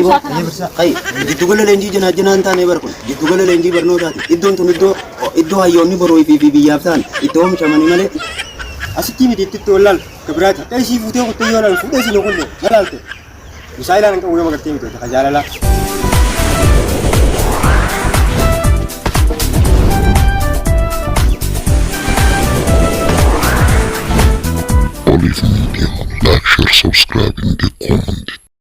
Egaa kana birsaa qayi jiddugala leenjii janaa janaa hin taane bara kun jiddugala leenjii barnootaati. Iddoon tun iddoo iddoo hayyoonni boruu fi fi biyyaaf ta'an iddoo oomishamanii malee asitti miti itti itti wallaal ka biraati. Akka isii fuutee kuttee yoo laalu fuudhee isin kulle na laalte. Bisaa ilaalan qabu yoo magartee miti ka jaalalaa. Olive Media. Like, share, subscribe, and get comment.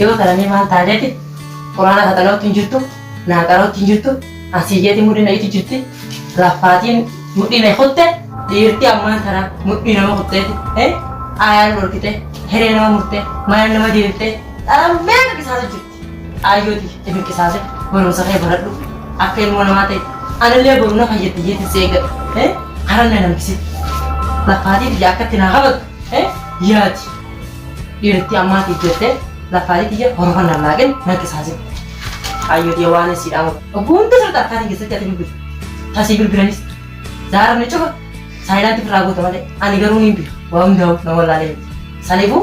Yoo taramee maal ta'a jeeti quraana kaxalootti hin jirtu naaqarootti hin jirtu asii jeeti mudhiin dhayitti jirti laffaatiin mudhiin dhayi kutte dhiirti ammaan tana mudhii nama kutteeti ayaan dhorkite hiree nama murte mana nama deebifte dharamee qabisaatu jirti. Xaayyooti itti qisaase barumsa kee baradhu akka ilmoo namaa ta'e anillee boru na fayyatti jeetti si eeggadha karan na namkisitti lafaatii tiyya akkatti naa qabatu yaadi dhiirti ammaatiif jettee lafaatii tiyya horofan na laaqin na qisaase xaayyooti waan si dhaamu obboo hunda sirta akkaatiin keessatti ati bilbilu tasii bilbilanis zaaramni cufa saayilaanti firraa goota malee ani garuu niin bilu waa hundaa'u nama laalee saniifuu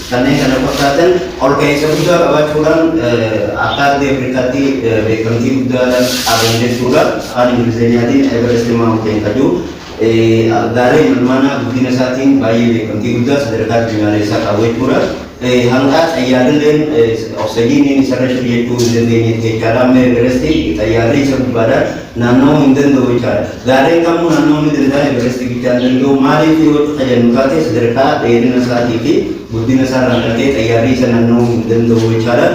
Kanneen kana fakkaatan ol ka'iinsa guddaa qabaachuudhaan akka ardii Afrikaatti beekamtii guddaa qaban jechuudha. Afaan Ingilizinyaatiin Everest Mountain kan jedhu gaalee imalmaanaa guddina isaatiin baay'ee beekamtii guddaa sadarkaa addunyaaleessaa qabu jechuudha. Hanqaa xayyaarrilleen oksijiiniin isarra jiru jechuu hin dandeenyetti jechaadha. Amma Everest xayyaarri isa gubbaadhaan naanna'uu hin danda'u jechaadha. Gaarreen kamuu naannoo ni danda'a, Everestii bichaa hin danda'u. Maaliif yoo itti fayyadnu taate sadarkaa dheerina isaatii fi guddina isaa irraan kan ka'e xayyaarri isa naanna'uu hin danda'u jechaadha.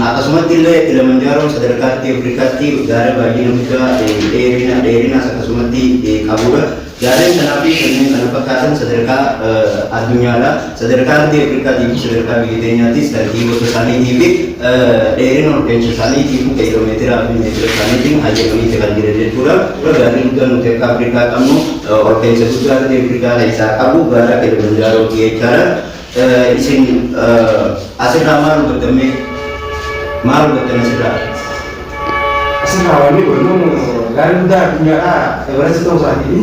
Akkasumatti illee Kilimanjaaroon sadarkaa ardii Afrikaatti gaara baay'ina guddaa dheerina dheerinaas akkasumatti qabudha. Gaarreen kanaa fi kanneen kana fakkaatan sadarkaa addunyaadha. Sadarkaa ardii Afrikaatii fi sadarkaa biyya teenyaatiis tartii gosa isaaniitii fi dheerina olka'insa isaaniitiifuu kiiloomeetiraa fi meetira isaaniitiin hayyamaniiti kan jiran jechuudha. Dura gaarri guddaan nuti akka Afrikaa qabnu olka'insa guddaa ardii Afrikaa keessaa qabu gaara Kilimanjaarooti jechaadha. Isin asirraa maal hubattammee? Maal hubattan asirraa? Asirraa wanni godhamu gaarri guddaa addunyaadhaa ebareessi ta'uu isaatiifi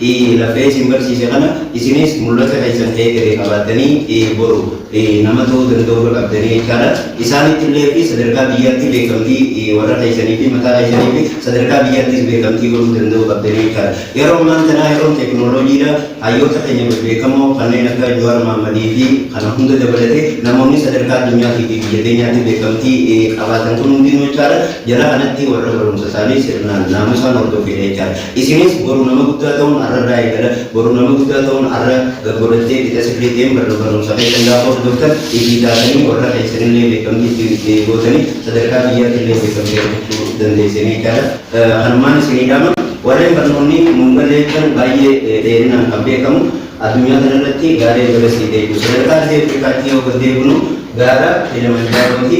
i. Lafee isin barsiise kana isinis mul'ata keessan eegale qabaattanii i. Boru i. Nama ta'uu danda'u irra qabdanii jechaa dha. Isaanitti illee fi sadarkaa biyyaatti beekamtii i. Warra keessanii fi mataa keessanii fi sadarkaa biyyaattis beekamtii godhuu danda'uu qabdanii jechaa dha. Yeroo ammaan tanaa yeroon teeknooloojii dha. Hayyoota keenya bebbeekamoo kanneen akka Jawaar Mahammadii fi kana hunda dabalatee namoonni sadarkaa addunyaatii fi biyya teenyaatti beekamtii i. Qabaatan kun hundinuu jechaa dha jara kanatti warra barumsa isaanii sirnaan naamusaan hordofee dha jechaa dha. Isinis boru nama guddaa ta'uun arra irraa eegala. Boru nama guddaa ta'uun arra gad godhattee qixa sirriiteen barruu barumsa keessan gaafa hordoftan ifii taatanii warra keessanillee beekamtii itti itti gootanii sadarkaa biyyaatillee beekamtii argachuu dandeessanii jechaadha. Kanumaan isinii dhaama. Warreen barnoonni nuun galle jettan baay'ee dheerinaan kan beekamu Addunyaa kana irratti gaara Everest deemnu sadarkaa ardii Afrikaatti yoo gad deebinu gaara Kilimanjaarooti.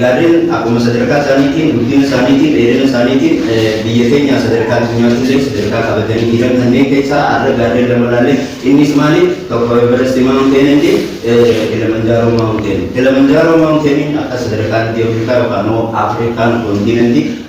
Gaarreen akkuma sadarkaa isaaniitiin, guddina isaaniitiin, dheerina isaaniitiin biyya keenyaa sadarkaa addunyaatti illee sadarkaa qabatanii jiran kanneen keessaa har'a gaarreen lama ilaalle. Innis maali? Tokko Everest Mountain and Kilimanjaro Mountain. Kilimanjaro Mountain akka sadarkaa ardii Afrikaa yookaan immoo Afrikaan kontiinantii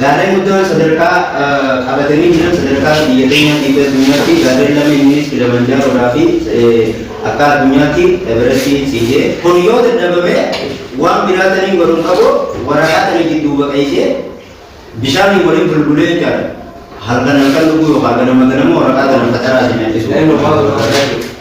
Gaarreen guddaan sadarkaa qabatanii jiran sadarkaa biyya keenyaatti fi addunyaatti gaarreen lama inninis Kilimanjaaroodhaa fi akka addunyaatti Everestii ciisee. Kun yoo dadhabame waan biraa taniin godhu hin qabu waraqaa tana jidduu baqeessee bishaaniin waliin bulbulee jechaadha. Halkan halkan dhuguu yookaan ganama ganama waraqaa tana facaraa isin nyaachisuu.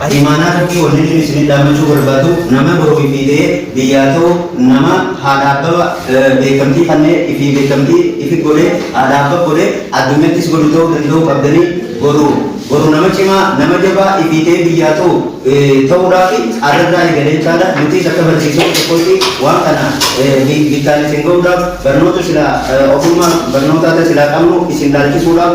Ati imaanaa tokkii wanni inni isinii dhaammachuu barbaadu nama boroo ifii ta'ee biyyaa ta'u nama haadha abbaba beekamtii kannee ifii beekamtii ifi godhee haadha abbab godhee addunyattis godhu ta'uu danda'uu qabdanii boru boru nama cimaa nama jabaa ifii ta'ee biyyaa ta'u ta'uudhaafi arrarraa eegalee jechaadha nutiis akka barsiisota tokkootti waan kana bittaan isin ga'uudhaaf barnoota silaa ofummaa barnootaata silaa qabnu isin laalchisuudhaaf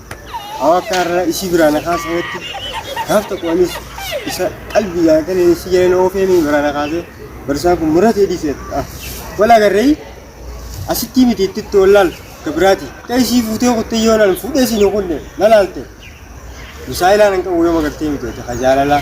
Hawa akka har'a isii biraa na kaasanitti gaaf tokko anis isa qalbii yaadatan isii jala na oofee mii biraa na kaasee barsaan kun muratee dhiisee wal agarree asittii miti itti itti wal laaltu akka biraati. Akka isii fuutee kuttee yoo naan fuudhee siin hin kunne na laalte. Musaa ilaalan qabu yoo magartee miti hojii jaalalaa.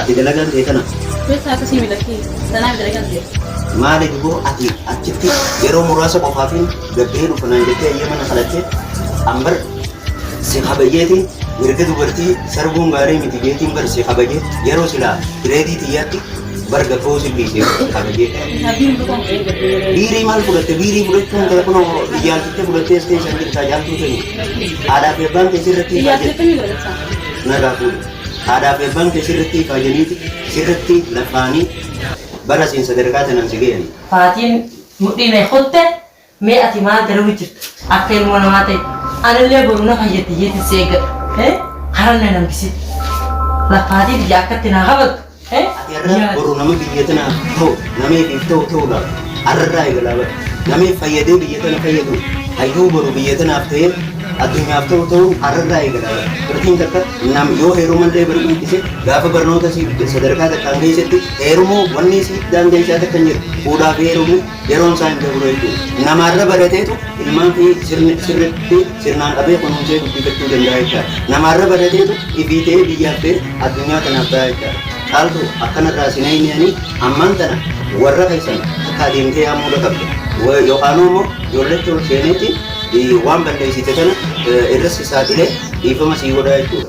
Ati dalagaan tee tana. Beektaa akka sii miidhagdee tanaa miidhagan jira. Maali duboo ati achitti yeroo muraasa qofaafin gabbee dhufa naan jettee eeyyama na kadhatte ambar si kabajeeti mirga dubartii sarbuun gaarii miti jeetiin bar si kabaje yeroo silaa bireedii xiyyaatti bar gabboo si dhiisee si kabaje. Abdiin butaan ta'ee gabbee. Biirii maal fudhatte biirii fudhachuun ta'e kunoo iyyaaltittee fudhattee as keessan jirtaa jaaltuu ta'e aadaa fi abbaan keessi irratti Iyyaatee akkamii godhachaa? narraa fuudhe. Haadhaaf abbaan kee sirratti kaajaniiti, sirratti labbaanii bara siin sadarkaa tanaan si gayani. Faatiin mudhii na kutte mee ati maal dalagu jirta akka ilmoo namaa ta'i anillee boru na fayyatti jeetin si eeggadha. Karan na nambisin. Lafaatii tiyya akkatti naa kabaltu Yerra boru nama biyya tana ta'u nameetiif ta'u ta'uudhaaf arrarraa eegalaa bara. Namee fayyadee biyya tana fayyadu hayyuu boru biyya tanaaf ta'ee addunyaaf ta'u ta'uu arrarraa eegalaa bara. Dubartiin takka nam yoo heeruman ta'e bari dhiise gaafa barnoota isii sadarkaa takkaan geessetti heerumuu wanni isii daandeessaa takka hin jiru. Fuudhaa fi heerumuu Yeroon isaa hin dabruu jechuudha. Namaarra barateetu ilmaan fi sirni- sirriitti sirnaan qabee kunuunsee guddifachuu danda'a jechaadha. Namaarra barateetu ifii ta'ee biyyaaf ta'ee addunyaa kanaaf ta'a jechaadha. Caaltu akkanarraa sin eegniyanii ammaan tana warra keessan akka adeemtee yaamuu dhaqabde. Wa- Yookaanuu immoo ijoolleetti ol seeneeti eh, waan balleessite tana eh, irras saaxilee dhiifama sii godhaa jechuudha.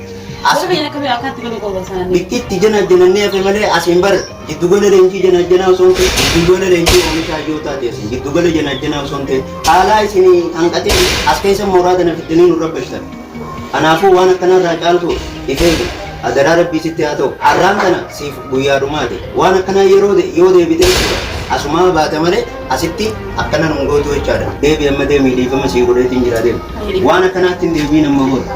Asii Asii akka bee akkaatti godhu qofa sana. bittitti janajjanannee hafe malee asiin bar giddugala leenjii janajjanaa osoo hin ta'in giddugala leenjii oomishaa yoo taate asiin giddugala janajjanaa osoo hin ta'in haalaa isin hanqatee as keessa mooraa kana fiddanii nu rabbashtan. Kanaafuu waan akkanarraa caaltu ifee adaraa rabbii sitti haa ta'u har'aan kana siif guyyaa dhumaati waan akkanaa yeroo de- yoo deebite jechuudha. asumaa baate malee asitti akkana nun gootu jechaadha deebi amma deemii dhiifama sii godheetiin jira deemu waan akkanaatti hin deebiin amma booda.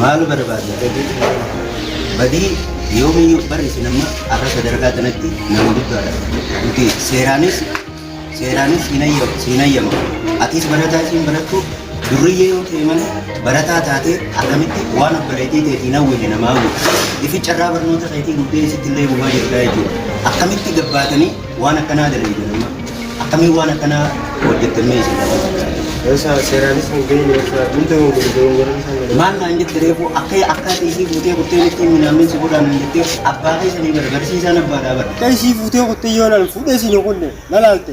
maal barbaadna badii yoomiyyuu barri isin amma akka sadarkaa kanatti nama guddaadha nuti seeraanis seeraanis hin hayyamu atis barataa isin barattu Durriyyee yoo ta'e malee barataa taatee akkamitti waan obboleettii ta'eef hin hawwine namaa hawwita. Ifi carraa barnoota keetii guddee isitti illee gumaa jirtaa jechuudha. Akkamitti gabbaatanii waan akkanaa dalagidan amma? Akkamiin waan akkanaa hojjettan mee isin dalagaa? Isa seeraanis hin geenye isa hundi hin gurgurin garuu isaan jedhan. Maal naan jette reefuu akka akka ati isii fuutee kuttee mitti minaammin si godhaa naan jettee abbaa keessanii bara barsiisaan abbaadhaa bara. Akka isii fuutee kuttee yoo naan fuudhee isin hin kunne na laalte.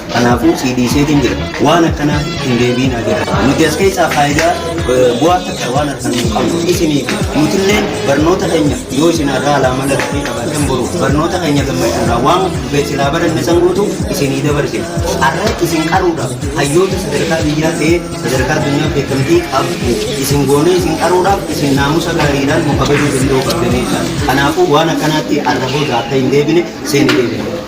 Kanaafuu sii dhiiseetiin jira. Waan akkanaa hin deebiinaa jira. Nuti as keessaa faayidaa eh, bu'aa takka waan argannu hin qabnu. Isiniif nutilleen barnoota keenya yoo isin irraa laamala dhufee qabaatan boru barnoota keenya gammachuudhaa waan beeksifaa baranne san guutuu isinii dabarsina. Har'a isin qaruudhaaf hayyoota sadarkaa biyyaa ta'ee sadarkaa addunyaa beekamtii qabdu isin goonee isin qaruudhaaf isin naamusa gaariidhaan nu kabajuu danda'uu qabdaniidha. Kanaafuu waan akkanaatti arra booda akka hin deebine seeni deebina.